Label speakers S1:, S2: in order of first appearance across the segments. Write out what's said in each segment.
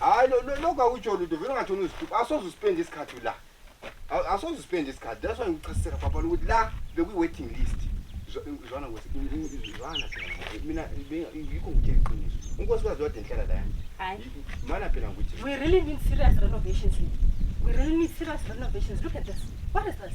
S1: hayi lokhu akutsho lutho vele ungathona uzitupa asoze uspende isikhathi la asoze uspende isikhathi that's why ngikuchasisela papa lokuthi la bekwi-waiting list zwana zwana phela mina yikho ngithe iqiniso unkosikazi wade nhlala la yami mana
S2: phela ngithi
S1: we really need serious
S2: renovations we really need serious renovations look at this what is this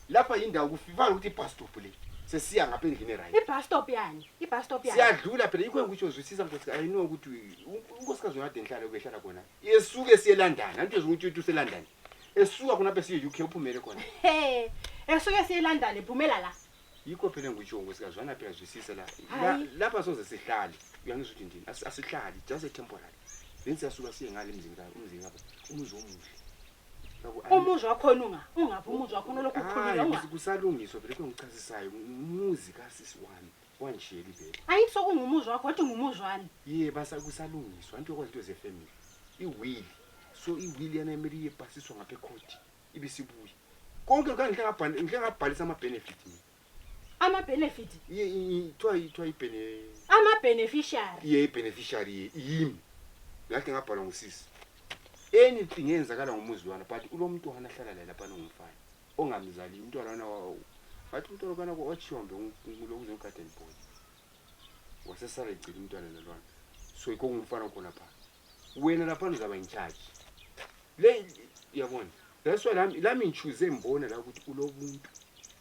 S1: lapha yindawo kufivana ukuthi ibus stop le sesiya ngapha endlini right ibus stop yani ibus
S2: stop yani siyadlula
S1: phela yikho engikutsho zwisisa mfethu i know ukuthi unkosikazi wona kade ngihlala ubehlala khona esuke siyelandana anto ezinguthi uthi uselandana esuka khona apha siye-uk uphumele khona esuke
S2: siyelandana ephumela la yikho phela engikutsho
S1: nkosikazi wana phela zwisisa la lapha soze sihlale uyangizwa ukuthi ndini asihlali just a temporary then siyasuka siye ngale mzini umzini kapha umuzi omuhle
S2: umuzi wakhona unga ungaphi umuzi wakhona olokhu ukhulile unga kusalungiswa vele
S1: kungichazisayo umuzi kasisi wami wanjeli vele ayithi sokungumuzi wakho
S2: wathi ngumuzi wani ye basa
S1: kusalungiswa anti yokwazi into zefamily iwili so iwili yana imele iyebhasiswa ngapha ekhoti ibe sibuye konke kangihle ngabhalisa ama-benefit mina ama
S2: benefit ye ithiwa ithiwa
S1: ibene ama beneficiary
S2: ye beneficiary ye yimi
S1: ngathi ngabhalwa ngusisi anything eyenzakala ngomuzi lwana but ulomntwana ahlala laye lapha nongumfana ongamzali umntwana lwana wawo ngathi umntwana lwana wachiwambe lokuze ugarden boy wasesala egcina umntwana lolwana so yikho ngumfana khona pha wena lapha uzaba incharge le yabona that's why lami lami ngichuze mbona la ukuthi ulobuntu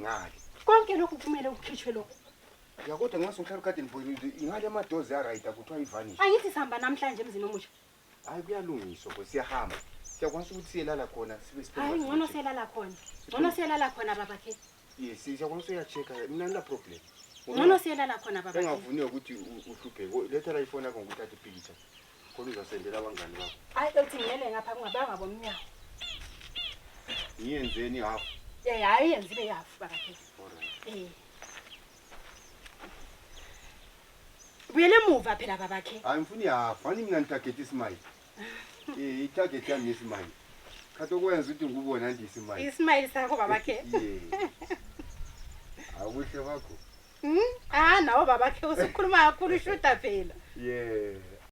S1: ngale konke lokhu kumele
S2: ukhitshwe lokhu ya kodwa nxa
S1: sungihlala ukade ndibonile ingale amadozi arayida kuthiwa ivanish angithi sihamba namhlanje
S2: emzini omusha hayi kuyalungiswa
S1: bo siyahamba siyakwanisa ukuthi siyelala khona sibe hayi ngcono selala
S2: khona ngcono selala khona babakhe yes siyakwanisa
S1: uyachecka mina ngila problem ngcono selala
S2: khona babakhe engavuniwe ukuthi
S1: uhlupheke letha la ifoni yakho ngikuthatha ipikicha Khona uzasendela abangani bakho. Hayi ethi ngiyele ngapha
S2: kungabanga bomnyango.
S1: Ngiyenzeni half? Eh hayi yenza ibe
S2: half bakhe. Eh. Buyele emuva phela babakhe. Hayi ngifuni half. Ani
S1: mina ngitarget isimile. Eh itarget yami isimile. Khathi okwenza ukuthi ngikubona nje isimile. Isimile sakho
S2: babakhe. Yeah. Awuhle wakho. Hmm?
S1: Ah
S2: nawo babakhe usukhuluma kakhulu ushuta
S1: phela.
S2: Yeah.